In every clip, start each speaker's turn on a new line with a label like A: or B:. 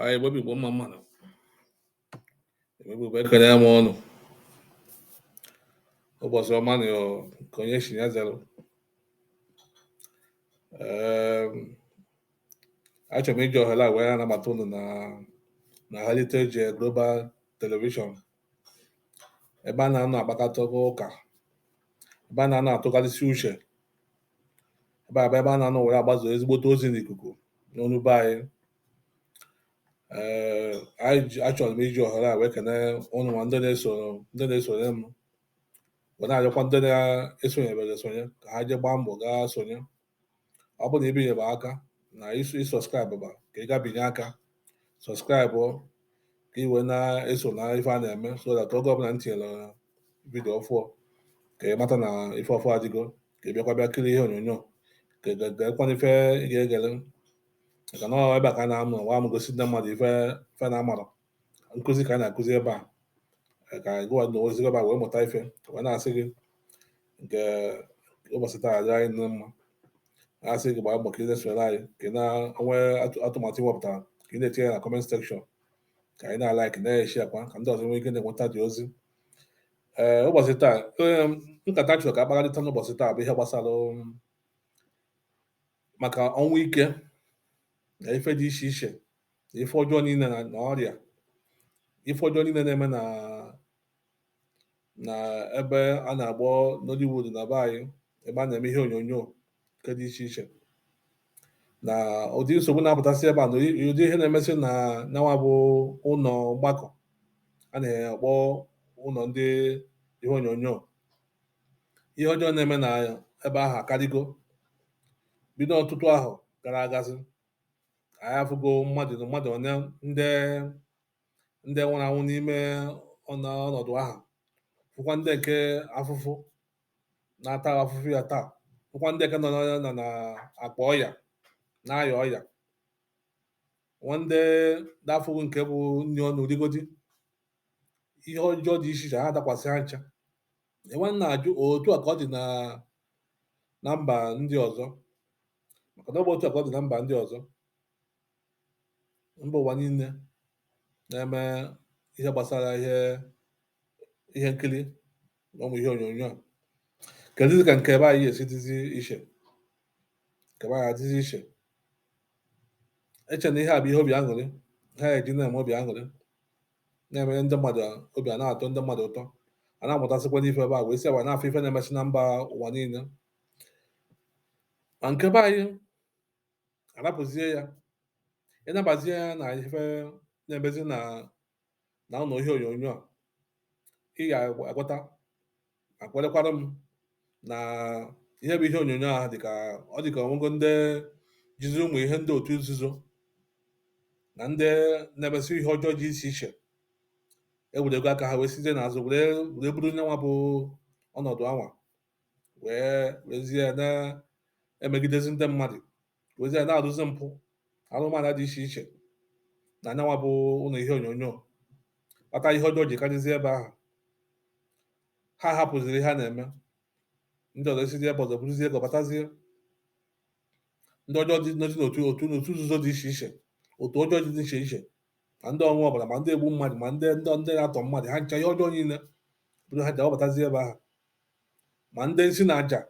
A: anyị Igbo bụ Igbo mma mmanụ Igbo bụ Igbo ekelee m unu ụbọchị ọma nụ nke onye chị ya zere achọrọ m iji ohere a wee nabata unu na na Heritage Global Television ebe a na-anọ akpakọta ụka ebe a na-anọ atụgharịsị uche ebe a bụ ebe a na-anọ were agbazo ezigbote ozi n'ikuku n'ọnụ be anyị ee achọrọ m iji ohere a wee kene ụnụ nwa ndị na-esoro ndị na-esonye m wee na-arịọkwa ndị na-esonyebere esonye ka ha jee gbaa mbọ gaa sonye ọ bụrụ na ibinyebe aka na isu ị subscribe ba ka ị gaa binye aka subscribe ka ị wee na-eso na ife a na-eme so that oge ọbụla m tinyere video ọfụọ ka ị mata na ife ọfụọ adịgo ka ị bịakwa bịa kiri ihe onyonyo ka ị ga- gekwaa na ife ị ga-egere maka na ọ ebe a ka a na-amụ nwa m gosi ndị mmadụ ife ife na-amarọ nkụzi ka a na-akụzi ebe a Ee, ka anyị gụwa n'ozi ebe a wee mụta ife wee na-asị gị nke ụbọchị taa adịrị anyị na mma na-asị gị gbaa mbọ ka ị na-esonyere anyị ka ị na-enwe atụ- atụmatụ ị wepụtara ka ị na-etinye ya na comment section ka anyị na-alike na-eshare kwa ka ndị ọzọ nwee ike na-enweta ụdị ozi ee eh, ụbọchị taa eh, nkata chọrọ ka a kparịta n'ụbọchị taa bụ ihe gbasara um, maka ọnwụ ike na ife dị iche iche na ife ọjọọ niile na ọrịa ife ọjọọ niile na-eme na na ebe a na-akpọ Nollywood na be anyị ebe a na-eme ihe onyonyo nke dị iche iche na ụdị nsogbu na-apụtasị ebe a na ụdị ihe na-emesị na nyanwa bụ ụlọ mgbakọ a na-akpọ ụlọ ndị ihe onyonyo ihe ọjọọ na-eme na ebe ahụ akarịgo bido ọtụtụ ahọ gara agazi anyị afụgo mmadụ na mmadụ onye ndị ndị nwụrụ anwụ n'ime ọnọdụ ahụ fụkwa ndị nke afụfụ na-ata afụfụ ya taa fụkwa ndị ka nọ na na akwa ọya na-aya ọya nwee ndị na-afụghị nke bụ nri ọnụ rigodi ihe ọjọọ dị iche iche adakwasị ha ncha e wee na-ajụ otu a ka ọ dị na na mba ndị ọzọ maka na ọ bụ otu a ka ọ dị na mba ndị ọzọ mba ụwa niile na-eme ihe gbasara ihe ihe nkiri na ụmụ ihe onyonyo kedụzi ka nke be anyị esi dịzi iche nke be anyị adịzi iche eche na ihe a bụ ihe obi aṅụrị ha eji na-eme obi aṅụrị na-emere ndị mmadụ obi ana-atọ ndị mmadụ ụtọ a na-amụtasịkwa n'ife ebe a wee si ebe a na-afụ ife na-emesị na mba ụwa niile ma nke be anyị arapụzie ya ịnabazie ya na ife na-emezi na na ụlọ ihe onyonyo a ị ga-aghọta ma kwelekwara m na ihe bụ ihe onyonyo a dịka ọ dịka ọnwụgo ndị jizi ụmụ ihe ndị otu nzuzo na ndị na-emezi ihe ọjọọ dị iche iche ewerego aka ha wee sizie n'azụ were were buru nyanwa bụ ọnọdụ anwa wee wezie ya na-emegidezi ndị mmadụ wezie ya na-arụzi mpụ arụmala dị iche iche na nyanwa bụ ụlọ ihe onyonyo kpata ihe ọjọọ ji karịzie ebe ahụ ha hapụziri ihe ha na-eme ndị ọzọ esizi ebe ọzọ buruzie ego batazie ndị ọjọọ dị nọzi n'otu otu n'otu nzuzo dị iche iche otu ọjọọ dị iche iche ma ndị ọṅụ ọbara ma ndị ogbu mmadụ ma ndị ndị ndị na-atọ mmadụ ha ncha ihe ọjọọ niile bụrụ ha ji awabatazi ebe ahụ ma ndị nsi na aja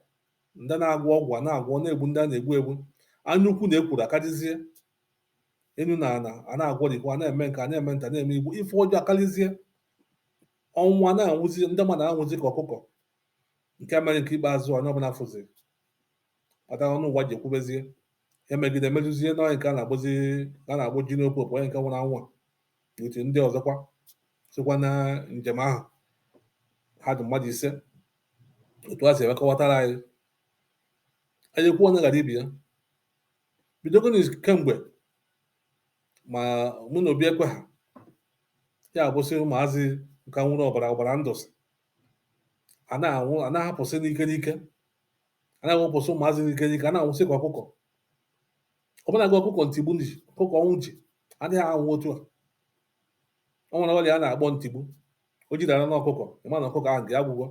A: ndị na-agwọ ọgwụ a na-agwọ na-egbu ndị a na-egbu egbu anya ukwu na ekworo akalizie enu na ana a na-agwọrikwa a na-eme nke a na-eme nta na-eme imo ife ọjọọ akalizie ọnwụ a na-anwụzi ndị mmadụ anwụzi ka ọkụkọ nke mere nke ikpeazụ onye ọbụla fụziri kpatara ọnụ ụwa ji ekwubezie emegide emejuzie n'onye nke a na-akpọzi a na-akpọ Junior Pope onye nke nwụrụ anwụ a otu ndị ọzọkwa sokwa na njem ahụ ha dị mmadụ ise otu e si wee kọwatara anyị anyị kwuo onye ghara ibe ya bidogonu kemgbe ma Muna Obiekwe ha ya abụsị ụmụazị nka nwụrụ ọbara ọbara ndụsị a na-anwụ a na-ahapụsị n'ike n'ike a na-awụpụsị ụmụazị n'ike n'ike a na-anwụsị ka ọkụkọ ọbụna gị ọkụkọ ntigbu ji ọkụkọ ọnwụ ji adịghị anwụ otu a ọ nwere ọrịa a na-akpọ ntigbu o jidara na ọkụkọ ịma na ọkụkọ ahụ ga-agwụ agwụ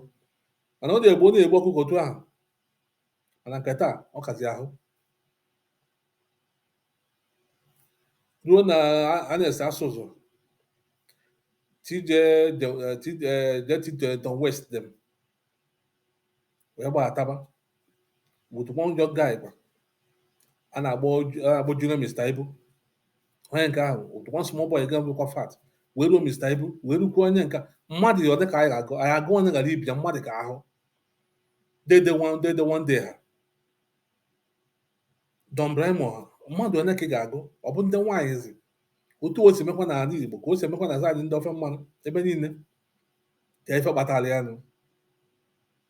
A: mana ọ na-egbu ọ na-egbu ọkụkọ otu ahụ mana nke taa ọ kazi ahụ ruo na a na-ese asụsụ TJ JT Tom West dem wee gbaataba with one young guy kwa a na-akpọ a na-akpọ Junior Mr. Ibu onye nke ahụ with one small boy ga bụkwa fat wee ruo Mr. Ibu wee rukwa onye nke mmadụ one ka anyị ga-agụ anyị agụ onye ghara ibe ya mmadụ ka ahụ Dede One Dede One Day ha Don Brymo ha mmadụ one ka ị ga-agụ ọ bụ ndị nwaanyị zi otu o si mekwa n'ala Igbo ka o si emekwa na side ndị ofe mmanụ ebe niile ka ife kpatara ya nụ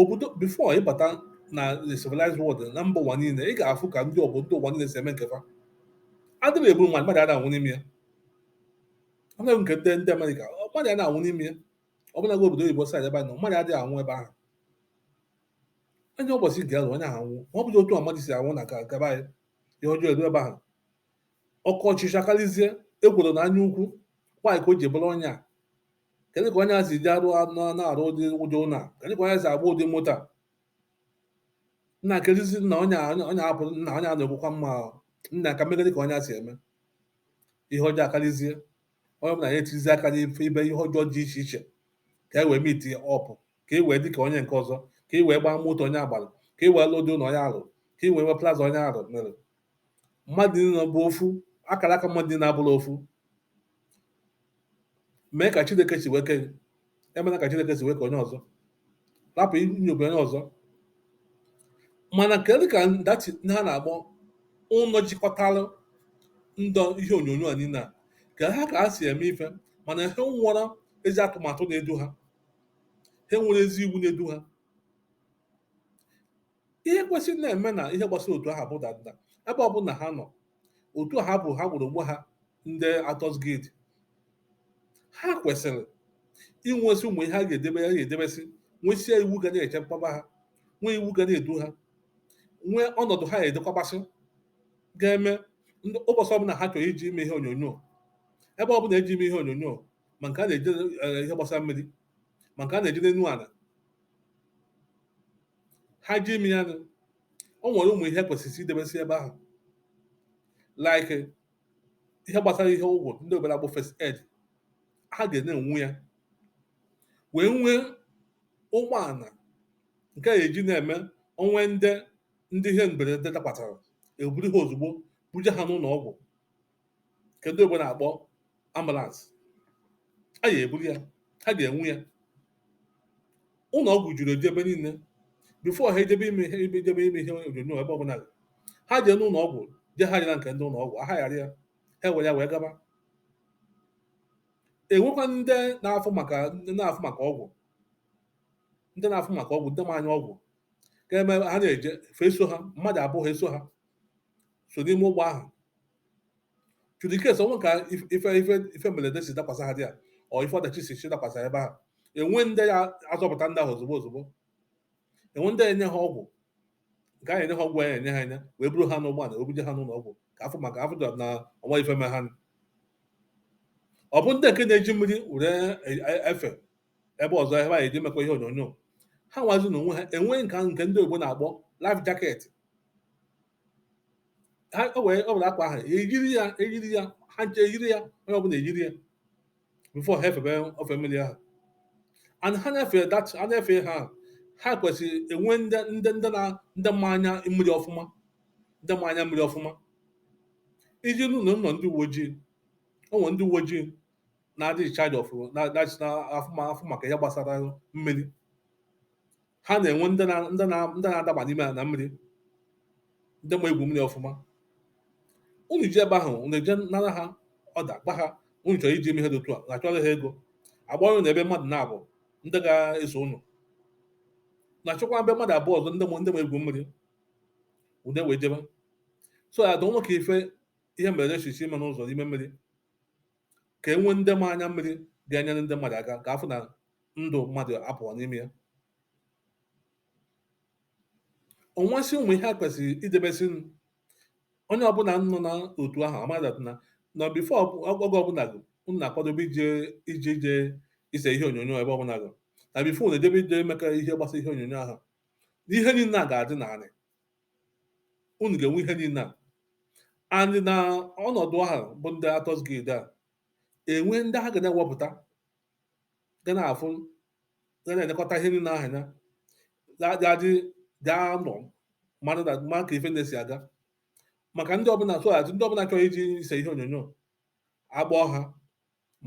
A: obodo before ịbata na the civilized world na mba ụwa niile ị ga-afụ ka ndị obodo ụwa niile si eme nke fa adịghị egbu mmadụ mmadụ ada anwụ n'ime ya anaghị nke ndị ndị amerịka mmadụ ada anwụ n'ime ya ọ bụla obodo oyibo side ebe a nọ mmadụ adịghị anwụ ebe ahụ onye ụbọchị ya luo onye ahụ anwụọ ma ọ bụghị otu mmadụ si anwụ n'aka be anyị ihe ọjọọ eru ebe ahụ oke ọchịchọ akarịzie ekworo na anya ukwu nwaanyị ka o ji bụrụ onye a kedu ka onye a si ji arụ na-arụ ụdị ụdị ụlọ a kedu ka onye si agba ụdị moto a nna kedụzi nna onye onye a bụ nna onye a na-ekwukwa mma nna ka m megide ka onye a si eme ihe ọjọọ akarịzie onye ọbụla ya etinyezi aka n'ife ibe ihe ọjọọ dị iche iche ka e wee meet up ka e wee dị ka onye nke ọzọ ka e wee gbaa moto onye a gbara ka e wee lụọ ụdị ụlọ onye a rụrụ ka e wee nwee plaza onye ahụ nwere mmadụ niile bụ ofu akara aka mmadụ niile abụrọ ofu mee ka chineke si wee kee gị emena ka chineke si wee kee onye ọzọ rapụ inyobe onye ọzọ mana kedu ka ndachi ha na-akpọ ụlọ jikọtara ndị ihe onyonyo a niile a ka ha ka ha si eme ife mana ha enwerọ ezi atụmatụ na-edu ha ha enwerọ ezi iwu na-edu ha ihe kwesịrị na-eme na ihe gbasara otu a ha bụ danda ebe ọ bụla ha nọ otu a ha bụ ha kpọrọ onwe ha ndị actors guild ha kwesịrị inwesị ụmụ ihe ha ga-edebe ha ga-edebesị nwesịa iwu ga na-echekwaba ha nwee iwu ga na-edu ha nwee ọnọdụ ha edekwabasị ga-eme ndị ụbọchị ọbụla ha chọrọ ije ime ihe onyonyo ebe ọbụla eje ime ihe onyonyo ma nke a na-eje eh, ihe gbasara mmiri ma nke a na-eje n'elu ala ha je ime ya nụ o nwere ụmụ ihe kwesịrị idebesị ebe ahụ like ihe gbasara ihe ọgwụ ndị oyibo na-akpọ first aid ha ga na-enwe ya wee nwee ụgbọala nke a eji na-eme o nwee ndị ndị ihe mberede dakwatara eburu ha ozugbo buje ha n'ụlọ ọgwụ nke ndị oyibo na-akpọ ambulance a ya eburu ya ha ga-enwe ya ụlọ ọgwụ juru eju ebe niile before ha ejebe ime ihe ebe ejebe ime ihe onyonyo ebe ọbụla dị. ha jee n'ụlọ ọgwụ je hayara nke ndị ụlọ ọgwụ a hayara ya ha were ya wee gaba enwekwa ndị na-afụ maka ndị na-afụ maka ọgwụ ndị na-afụ maka ọgwụ ndị ma anya ọgwụ ka eme ha na-eje fa eso ha mmadụ abụọ ha eso ha so n'ime ụgbọ ahụ just in case o nwee ka ife ife ife mberede si dakwasa ha dị ya ọ ife ọdachi si si dakwasa ebe ahụ e nwee ndị ya-azọpụta ndị ahụ ozugbo ozugbo e nwee ndị ya-enye ha ọgwụ nke a ya-enye ha ọgwụ a ya-enye ha enye wee buru ha n'ụgbọala wee buje ha n'ụlọ ọgwụ ka a fụ maka a fụ na o nwerọ ife me ha ọ bụ ndị nke na-eji mmiri were efe ebe ọzọ ebe anyị eji mekọ ihe onyonyo ha nwazi na onwe ha enwee nke nke ndị oyibo na-akpọ life jacket ha o wee ọ bụla akwa ahụ eyiri ya eyiri ya ha nche eyiri ya onye ọbụla eyiri ya before ha efebe ofe mmiri ahụ and ha na-efe that ha na-efe ha ahụ, ha kwesịrị enwe ndị ndị ndị na ndị ma anya mmiri ọfụma ndị ma anya mmiri ọfụma ị jee nụ na ụlọ ndị uwe ojii o nwere ndị uwe ojii na-adị in charge of na na na afụ ma- afụ maka ihe gbasara mmiri ha na-enwe ndị na- ndị na- ndị na-adaba n'ime ala mmiri ndị ma egwu mmiri ọfụma unu jee ebe ahụ unu eje nara ha order gwa ha unu chọrọ ije eme ihe dị otu a na achọrọ ha ego agba unu na ebe mmadụ naabọ ndị ga-eso unu na achọkwa ebe mmadụ abụọ ọzọ ndị ma ndị ma egwu mmiri unu ewee jebe so adịghị ama ka ife ihe mberede si si eme n'ụzọ n'ime mmiri ka e nwee ndị ma anya mmiri ga-enyere ndị mmadụ aka ka a fụ na ndụ mmadụ apụrọ n'ime ya o nwesị ụmụ ihe a kwesịrị idebesi onye ọbụla nọ na otu ahụ ama that na na before oge ọbụla gị unu na-akwadobe ije ije ije ise ihe onyonyo ebe ọbụla gị na before unu ejebe ije eme ka ihe gbasara ihe onyonyo ahụ na ihe niile a ga-adị n'anị unu ga-enwe ihe niile a and na ọnọdụ ahụ bụ ndị Actors Guild a enwee ndị ha ga na-ewepụta ga na-afụ ga na-elekọta ihe niile ahụ anya ga-adị ga-anọ ma ka ife na-esi aga maka ndị ọbụla soghachi ndị ọbụla chọrọ ije ise ihe onyonyo akpọọ ha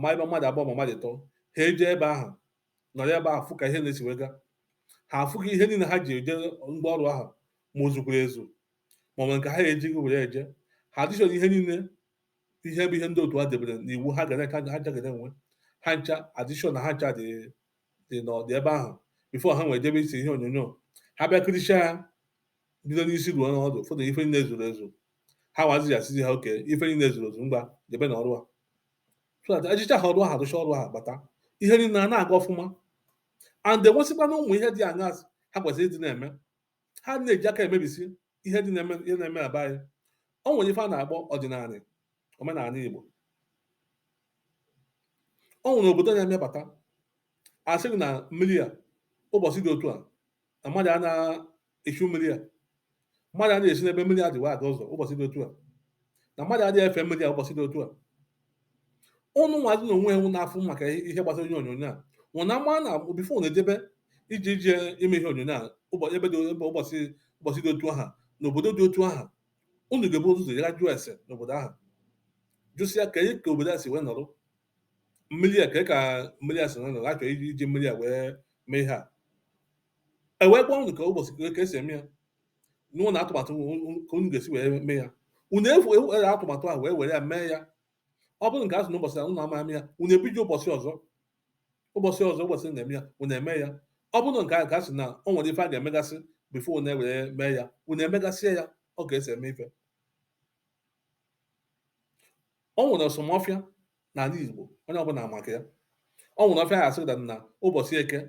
A: ma ebe mmadụ abụọ ma mmadụ ịtọ ha eje ebe ahụ nọrọ ebe ahụ fụ ka ihe na-esi wee ga ha afụ gị ihe niile ha ji eje ngwa ọrụ ahụ ma o zukwara ezu ma ọ nwere nke ha ejighị were eje ha dịchọrọ ihe niile ihe bụ ihe ndị otu a debere n'iwu ha gara ka ha jagara enwe ha ncha adịcha na ha ncha dị dị n'ọdị ebe ahụ before ha ewere jebe ise ihe onyonyo ha bịa kiricha ya bido n'isi ruo n'ọdụ fụta ife niile zuru ezu ha nwazi asịzị ha okay ife niile zuru ezu ngwa jebe na ọrụ a so that ejecha ha ọrụ ahụ arụcha ọrụ ahụ bata ihe niile a na-aga ọfụma and enwesịkwana ụmụ ihe dị aṅa ha kwesịrị ịdị na-eme ha na-eji aka emebisi ihe dị na-eme ihe na-eme na be anyị o nwere ife a na-akpọ ọdịnala omenala Igbo o nwere obodo na-emebata a sị gị na mmiri a ụbọchị dị otu a na mmadụ a na-echu mmiri a mmadụ a na-esi n'ebe mmiri a dị wee aga ụzọ ụbọchị dị otu a na mmadụ adịghị efe mmiri a ụbọchị dị otu a ụnụ nwazi na onwe ụnụ na-afụ maka ihe gbasara ihe onyonyo a ụnụ na-ama na before ụnụ ejebe ije ije ime ihe onyonyo a ụbọchị ebe dị ebe ụbọchị ụbọchị dị otu ahụ na obodo dị otu ahụ ụnụ ga-ebu ụzọ gaa jụọ ese n'obodo ahụ jụsịa ka ka obodo a si wee nọrọ mmiri a ka ka mmiri a si wee nọrọ a chọ iji iji mmiri a wee mee ihe a e wee gwa ụnụ ka ụbọchị ka e si eme ya n'ụzọ na atụmatụ ka unu ga-esi wee mee ya unu efu ewere atụmatụ ahụ wee were ya mee ya ọ bụrụ nke a sị na ụbọchị unu ama ya unu ebido ụbọchị ọzọ ụbọchị ọzọ ụbọchị a na-eme ya unu eme ya ọ bụrụ nke a sị na o nwere ife a ga-emegasị before unu ewere mee ya unu emegasịa ya ọ ga-esi eme ife o nwere some ọfịa n'ala Igbo onye ọbụla ma maka ya o nwere ọfịa a sị na ụbọchị eke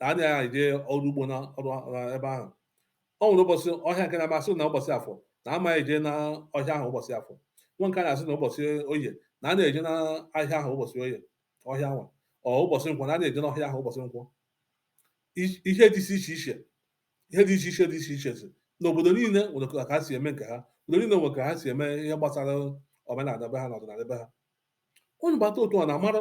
A: na a na-eje ọrụ ugbo na ọrụ na ebe ahụ o nwere ụbọchị ọhịa nke a na-asị na ụbọchị afọ na ama eje na ọhịa ahụ ụbọchị afọ nwa nke a na-asị na ụbọchị oye na a na-eje na ọhịa ahụ ụbọchị oye ọhịa nwa ọ ụbọchị nkwọ na a na-eje n'ọhịa ahụ ụbọchị nkwọ I- ihe dị iche iche ihe dị iche iche dị iche iche si n'obodo niile nwere ka ha si eme nke ha obodo niile nwere ka ha si eme ihe gbasara omenala be ha na ọdịnala be ha unu bata otu ọ na-amara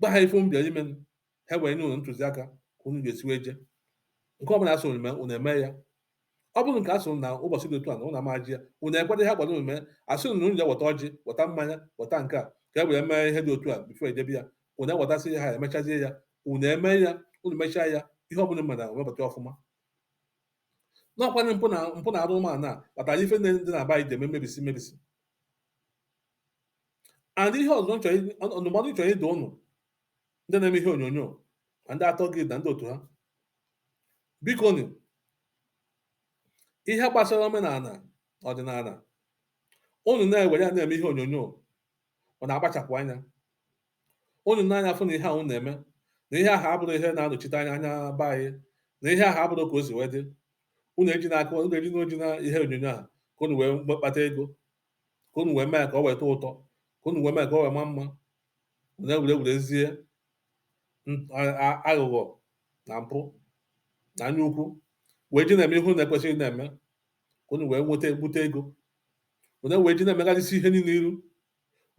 A: gwa ha ife unu bịara ime ha wee nye unu ntụziaka ka unu ga-esi wee jee nke ọbụla a sị unu mee unu eme ya ọ bụrụ nke a sị unu na ụbọchị dị otu a na unu ama eje ya unu ekweta ihe ha gwara unu mee a sị unu na unu ga-eweta ọjị weta mmanya weta nke a ka e wee mee ihe dị otu a before e jebe ya unu ewetasị ha emechazie ya unu eme ya unu mechaa ya ihe ọbụla mere webata ọfụma n'ọkwanye mpụ na mpụ na arụrụana kpatara ife ndị na-aba ije eme mmebisi mmebisi and ihe ọzọ ndụmọdụ m chọrọ ịdụ ụnụ ndị na-eme ihe onyonyo ma ndị atọ gị na ndị otu ha bikonụ ihe gbasara omenala ọdịnala ụnụ na-ewere ya na-eme ihe onyonyo ụnụ na-akpachapụ anya ụnụ na-anya afụ na ihe ụnụ na-eme na ihe ahụ abụrụ ihe na-anọchite anya be anyị na ihe ahụ abụrụ ka o si wee dị ụnụ ejina ka ụnụ ejina ihe onyonyo ahụ ka ụnụ wee kpata ego ka unu wee mee ka ọ wee tọọ ụtọ ka unu wee mee ka ọ wee ma mma unu ewee wezie aghụghọ na mpụ na anya ukwu wee ji na-eme ihe unu ekwesịghị na-eme ka unu wee gbute ego unu wee ji na-emegharịsị ihe niile iru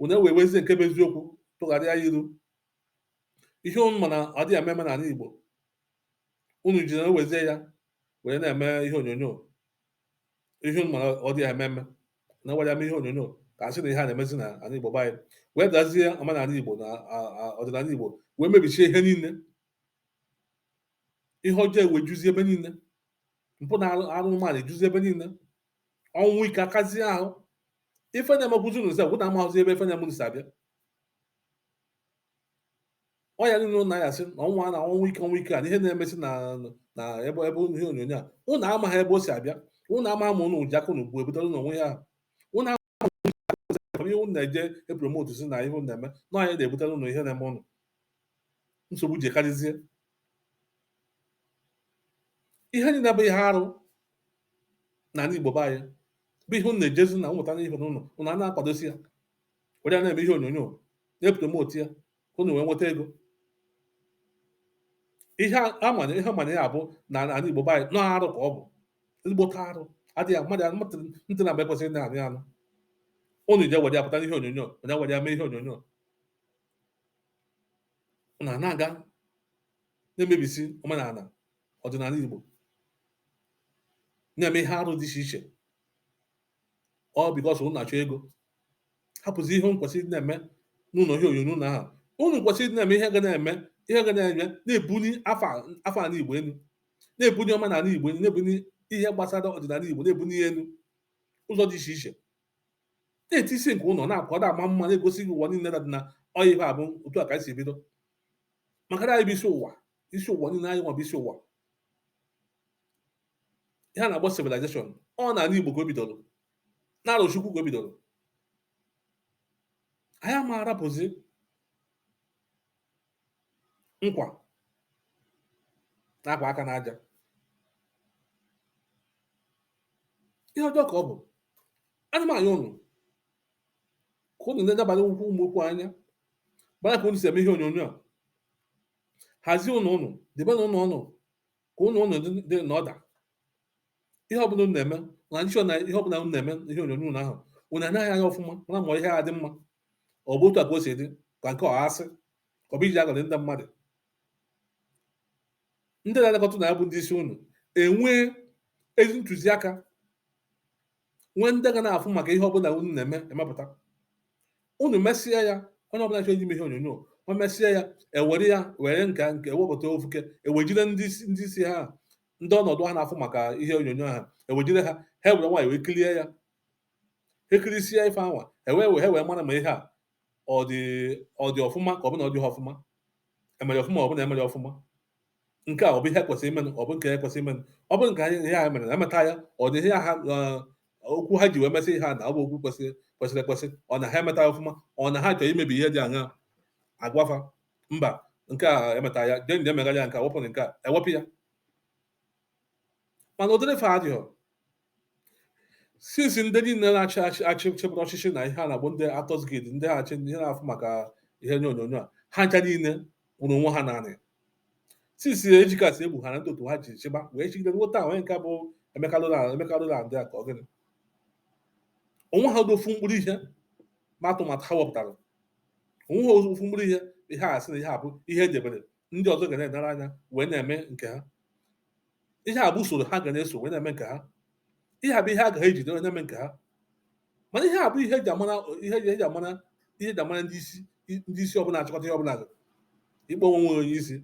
A: unu wee wezie nke bụ eziokwu tụgharịa ya iru ihe unu ma na ọ dịghị eme eme n'ala Igbo unu ji na-ewezie ya wee na-eme ihe onyonyo ihe unu ma na ọ dịghị eme eme unu ewere eme ihe onyonyo ka asị na ihe a na-emezi na ala Igbo be anyị wedazie omenala Igbo na ọdịnala Igbo wee mebichie ihe niile ihe ọjọọ ewee juzie ebe niile mpụ na arụrụala ejuzi ebe niile ọnwụ ike akazie ahụ ife na-emekwuzi unu sef unu amahụzi ebe ife na-eme unu si abịa ọya niile ụnụ na-ayasị na ọnwụ na ọnwụ ike ọnwụ ike a na ihe na-emesi na na ebe ebe ụnọ ihe onyonyo a ụnụ amaghị ebe o si abịa ụnụ ama ma ụnụ ji aka ụnụ bụ ebutere ụnụ onwe ya ahụ ụnụ ama ma ụnụ ji aka ụnụ bụ ihe ụnụ na-eje epromotu si na ihe ụnụ na-eme na ọ ya na-ebutere ụnụ ihe na-eme ụnụ nsogbu ji karịzie ihe niile bụ ihe arụ n'ala Igbo be anyị bụ ihe ụnụ na-ejezi na ụmụta n'ime ụnọ ụnụ a na-akwadosi ya were ya na-eme ihe onyonyo na-epromotu ya ka unu wee nweta ego ihe amanye ihe manye ya bụ na ala Igbo be anyị na ọ arụ ka ọ bụ ezigbote arụ adịghị mma ntị na-ekwesịghị ịna-anụ anụ unu je were ya pụta n'ihe onyonyo unu ewere ya mee ihe onyonyo unu a na-aga na-emebisi omenala ọdịnala Igbo na-eme ihe arụ dị iche iche ọ because unu na-achọ ego hapụzi ihe unu kwesịrị na-eme n'ụlọ ihe onyonyo na ahụ unu kwesịrị na-eme ihe ga na-eme ihe ga na-eme na-ebuli afa ala igbo elu na-ebuli omenala igbo elu na-ebuli ihe gbasara ọdịnala igbo na-ebuli ya elu ụzọ dị iche iche na-eti isi nke ụlọ na-akwa da ama mma na-egosizi ụwa niile dị na ọ ya ife a bụ otu a ka anyị si bido maka na anyị bụ isi ụwa isi ụwa niile anyị nwa bụ isi ụwa ihe a na-akpọ civilization ọ n'ala Igbo ka o bidoro n'Arọchukwu ka o bidoro anyị ama arapụzi nkwa na-akwa aka n'aja ihe ọjọọ ka ọ bụ ana m ayọ ụnụ ka ụnụ na-edabanye okwu mụ okwu anya gbara ka ụnụ si eme ihe onyonyo a hazie ụnọ ụnụ debe na ụnọ ụnụ ka ụnọ ụnụ dị dị na order ihe ọbụla unu na-eme na nchọ na ihe ọbụla unu na-eme ihe onyonyo unu ahụ unu enee ya anya ọfụma mara ma ihe a dị mma ọ bụ otu a ka o si dị ka nke ọ asị ka ọ bụ iji aghọri ndị mmadụ ndị na-elekọta unu ya bụ ndị isi unu enwee ezi ntụziaka nwee ndị ga na-afụ maka ihe ọbụla unu na-eme emepụta unu mesịa ya onye ọbụla chọrọ ime ihe onyonyo o mesịa ya ewere ya were nka nke ewepụta ofuke ewejire ndị isi- ndị isi ha ndị ọnọdụ ha na-afụ maka ihe onyonyo ha ewejire ha ha were nwayọọ wee kilie ya ekilisia ife anwa ewee wee wee mara ma ihe a ọ dị ọ dị ọfụma ka ọ bụ na ọ dịghị ọfụma emere ọfụma ọ bụ na emere ọfụma nke a ọ bụ ihe kwesịrị imenụ ọ bụ nke ekwesịrị imenụ ọ bụ nke anyị ihe ha mere na emeta ya ọ dị ihe ha okwu ha ji wee mesị ihe a na ọ bụ okwu kwesịrị kwesịrị ekwesị ọ na ha emeta ya ọfụma ọ na ha chọrọ imebi ihe dị aṅa agwafa mba nke a emeta ya jee jee megharịa ya nke a wepụ nke a ewepụ ya mana ụdịrị ife a adịghọ since ndị niile na-achị achị achị chịbụrụ ọchịchị na ihe a na-akpọ ndị Actors Guild ndị na-achị ihe na-afụ maka ihe onyonyo a ha ncha niile kwụrụ onwe ha naanị since Ejike Asiegbu ha na ndị otu ha ji chịba wee chịgide nweta onye nke bụ Emeka Roland Emeka Roland a ka ọ gịnị o nwehọ ofu mkpụrụ ihe ma atụmatụ ha wepụtara o nwehọ ofu mkpụrụ ihe ihe a sị na ihe a bụ ihe edebere ndị ọzọ ga na-enere anya wee na-eme nke ha ihe a bụ usoro ha ga na-eso wee na-eme nke ha ihe a bụ ihe ha ga-ejide wee na-eme nke ha mana ihe a bụ ihe eji amara ihe eji eji amara ihe eji amara ndị isi ndị isi ọbụla achịkọta ihe ọbụla ikpe onwe nwere onye isi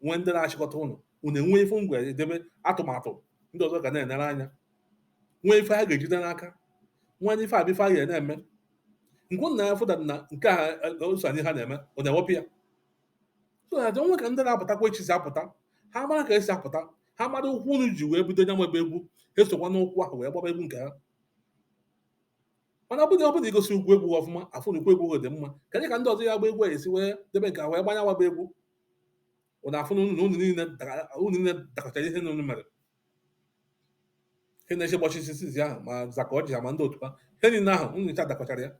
A: nwee ndị na-achịkọta ụnụ unu enwe ife ngwa edebe atụmatụ ndị ọzọ ga na-enere anya nwee ife ha ga-ejide n'aka nwee ife abịa ife a ga na-eme nke ụnụ na-afụda na nke a ụsọ anyị ha na-eme ọ na-ewepụ ya onwe ka ndị na-apụtakwa echi si apụta ha mara ka esi apụta ha mara ụkwụ unu ji wee bido nyawaba egwu esokwa n'ụkwụ ahụ wee gbaba egwu nke ha mana ọ bụghị ọ bụrụ igosi ụkwụ egwu ọfụma afụ na ụkwụ egwu dị mma kedụ ka ndị ọzọ ya-agba egwu esi wee debe nke ha wee gbanya waba egwu unu afụ na unu niile dakọchara ihe na unu mere ihe na-eche gbachi isi ahụ ma Zack Orji ma ndị otu ha ihe niile ahụ unu ncha dakọchara ya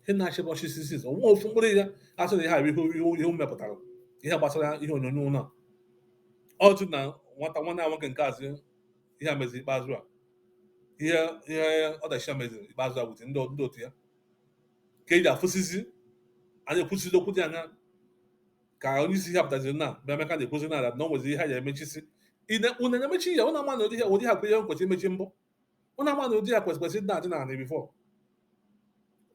A: ihe na-achị gbachi isi o nwehọ ofu mkpụrụ ihe a sị na ihe a bụ ihe e mepụtara ihe gbasara ihe onyonyo ụlọ ọtụ na nwata nwanne ya nwoke nke azụ ihe a meziri ikpeazụ a ihe ihe ọdachi a meziri ikpeazụ a wute ndị otu ya ka eji afụsizi a na-ekwusizi okwu dị aṅa ka onye isi ha pụtaziri na bụ Emeka na-ekwuzi na na o nwezi ihe ha ya emechisi unu na-emechi ya unu ama na ụdị ihe a ụdị ihe a kwere kwesịrị imechi mbụ unu ama na ụdị ihe a kwesịrị kwesịrị na-adị n'anị before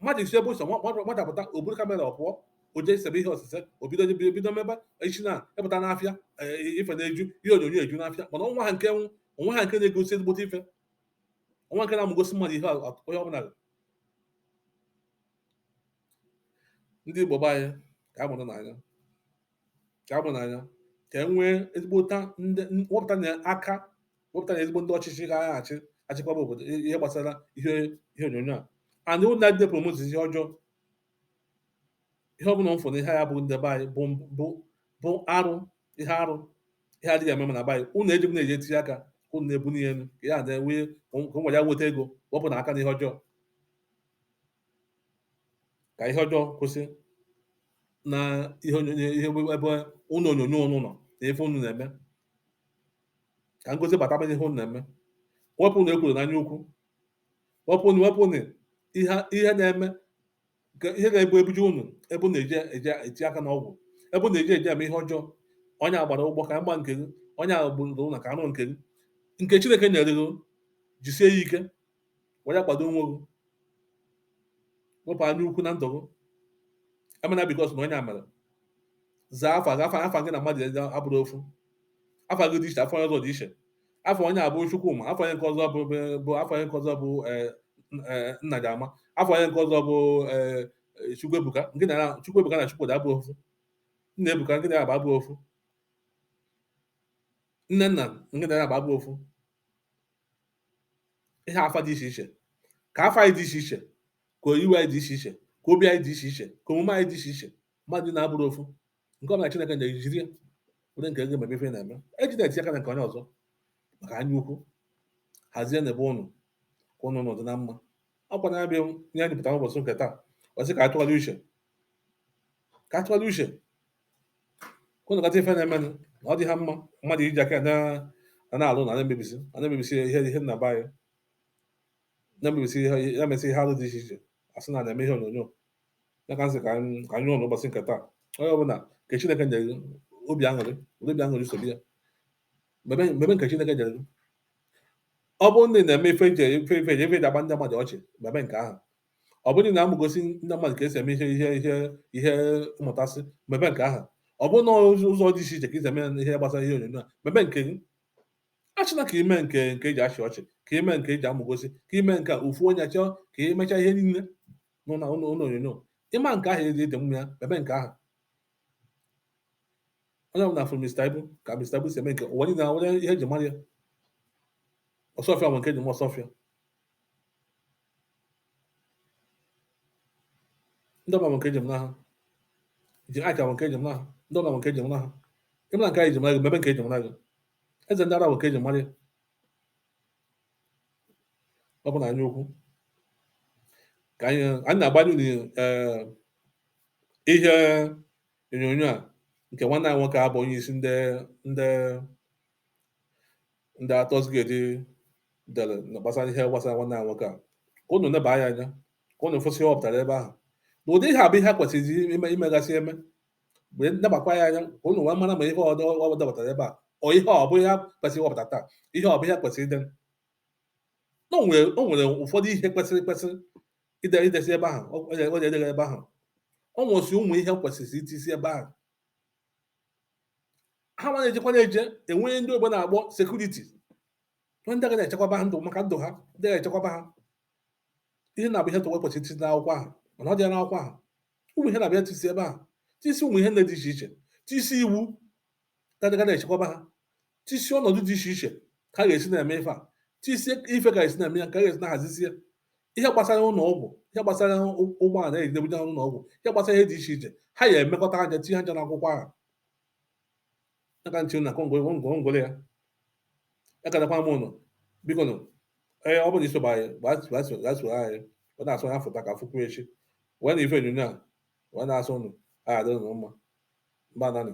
A: mmadụ esi ebe ọ sọ mmadụ pụta o buru kamera ọ pụọ o jee sebe ihe osise o bido bido bido mebe echi na ị pụta n'afịa eh, ife na-eju ihe onyonyo eju n'afịa mana o nwehọ nke nwụ o nwehọ nke na-egosi ezigbote ife o nwehọ nke na-amụgosi mmadụ ihe a- onye ọbụla ndị Igbo be anyị ka a mụrụnụ anya ka a mụrụnụ anya ka e nwee ezigbota ndị wepụtanụ aka wepụtanụ ezigbo ndị ọchịchị ga-aga achị achịkwaba obodo ihe gbasara ihe ihe onyonyo a and ụnụ ndị promote ihe ọjọọ ihe ọ bụla m fụrụ ihe ya bụ ndị be anyị bụ bụ bụ arụ ihe arụ ihe adịghị mma na be anyị ụnụ ejebena je etinye aka ka ụnụ na-ebuni ihe elu ka ya na-enwe ka nwa ya nweta ego wepụnụ aka n'ihe ọjọọ ka ihe ọjọọ kwụsị na ihe onyonyo ihe ebe ụlọ onyonyo ụnụ nọ na ife ụnụ na-eme ka ngozi bataba n'ihe ụnụ na-eme wepụnụ ekworo na anya ukwu wepụnụ wepụnụ ihe ihe na-eme ka ihe ga-ebu ebuje ụnụ ebe ụnụ eje eje eti aka na ọgwụ ebe ụnụ eje eje eme ihe ọjọọ onye a gbara ụgbọ ka m gbaa nke gị onye agbụrụ na ka anụ nke gị nke Chineke nyere gị jisie ya ike were kwado onwe gị wepụ anya ukwu na ndụ gị emena because na onye a mere zaa afa gị afa afa gị na mmadụ abụrọ ofu afa gị dị iche afa onye ọzọ dị iche afa onye a bụ Chukwuma afa onye nke ọzọ bụ bụ afa onye nke ọzọ bụ eh, eh, Nnadịama afa onye nke ọzọ bụ eh, Chukwuebuka gị na Chukwuebuka na Chukwudi abụrọ ofu Nnaebuka gị na ya abụrọ ofu Nnenna gị na ya abụrọ ofu ihe afa dị iche iche ka afa anyị dị iche iche ka iwe anyị dị iche iche ka obi anyị dị iche iche ka omume anyị dị iche iche mmadụ na-abụrọ ofu nke ọbụla Chineke nyere jiri ya were nke gị mebe ife ị na-eme ejena eti aka na nke onye ọzọ maka anya ukwu hazienụ ebe ụnụ ka ụnụ nọdụ na mma ọ kwa ya bụ ihe anyị pụtara ụbọchị nke taa wee sị ka a tụgharịa uche ka a tụgharịa uche nekata ife na-eme na ọ dịhọ mma mmadụ iji aka na na na-alụ na na-emebisi a na-emebisi ihe ihe nna be anyị na-emebisi ihe ya mesị ihe alụ dị iche iche a sị na a na-eme ihe onyonyo ya ka m sị ka anyị ka anyị ụlọ ụbọchị nke taa onye ọbụla nke Chineke nyere gị obi aṅụrị were obi aṅụrị sobi ya mebe mebe nke Chineke nyere gị ọ bụrụ na ị na-eme ife eji ife ife eji ife eji agba ndị mmadụ ọchị mebe nke ahụ ọ bụrụ na amụgosi ndị mmadụ ka esi eme ihe ihe ihe ihe mmụtasị mebe nke ahụ ọ bụrụ na ụzọ dị iche iche ka i si eme ihe gbasara ihe onyonyo a mebe nke gị achọna ka ime nke nke eji achị ọchị ka ime nke eji amụgosi ka ime nke ofu onye chọọ ka emecha ihe niile n'ụlọ onyonyo ị ma nke ahụ i si dị mma ya mebe nke ahụ onye ọbụla fụrụ Mr. Ibu ka Mr. Ibu si eme nke ụwa niile nwe ihe eji mara ya Osuofia nwe nke eji ma Osuofia ndị ọbụla nke eji mara ha ji aka nke eji mara ha ndị ọbụla nke eji mara ha ịmara nke anyị ji mara gị mebe nke eji mara gị eze ndị ara bụ ka eji mara ya ọ bụ na anya ukwu ka anyị anyị na-agbanye unu eh, ihe onyonyo a nke nwanne anyị nwoke a bụ onye isi ndị ndị ndị actors guild dere na gbasara ihe gbasara nwanne anyị nwoke a ka unu neba anya anya ka unu fụsị ihe ọ pụtara ebe ahụ na ụdị ihe a bụ ihe kwesịrị ime imegasị eme mgbe nebakwa ya anya ka unu wee mara ma ihe o depụtara ebe a ọ ihe ọ bụ ihe kwesịrị iwepụta taa ihe ọ bụ ihe kwesịrị ide o nwere ụfọdụ ihe kwesịrị kwesịrị ide idesi ebe ahụ o ji edegara ebe ahụ o nwesị ụmụ ihe kwesịrị itisi ebe ahụ ha nwa na-ejekwa na-eje enwe ndị oyibo na-akpọ security onye ndị ga na-echekwaba ha ndụ maka ndụ ha ndị ga-echekwaba ha ihe na-abụ ihe tụwa kwesịrị iti n'akwụkwọ ahụ mana ọ dị ya n'akwụkwọ ahụ ụmụ ihe na-abịa tisi ebe ahụ tisi ụmụ ihe ndị dị iche iche tisi iwu ga-adị ga na-echekwaba ha tisi ọnọdụ dị iche iche ka a ga-esi na-eme ife a tisi ife ka esi na-eme ya ka a ga-esi na-ahazizie ihe gbasara ụlọ ọgwụ ihe gbasara ụgbọala e na-ebuje ha n'ụlọ ọgwụ ihe gbasara ihe dị iche iche ha ya emekọta anya tinye anya n'akwụkwọ ahụ aka nche na ngwongworo ya ekenekwa m ụnụ biko nụ ee ọ bụrụ isoba anyị gbasoro anyị wee na-asụ ya foto ka fụkwu echi wee na ife onyonyo a wee na-asị ụnụ ya dịrị ụnụ mma mba nanị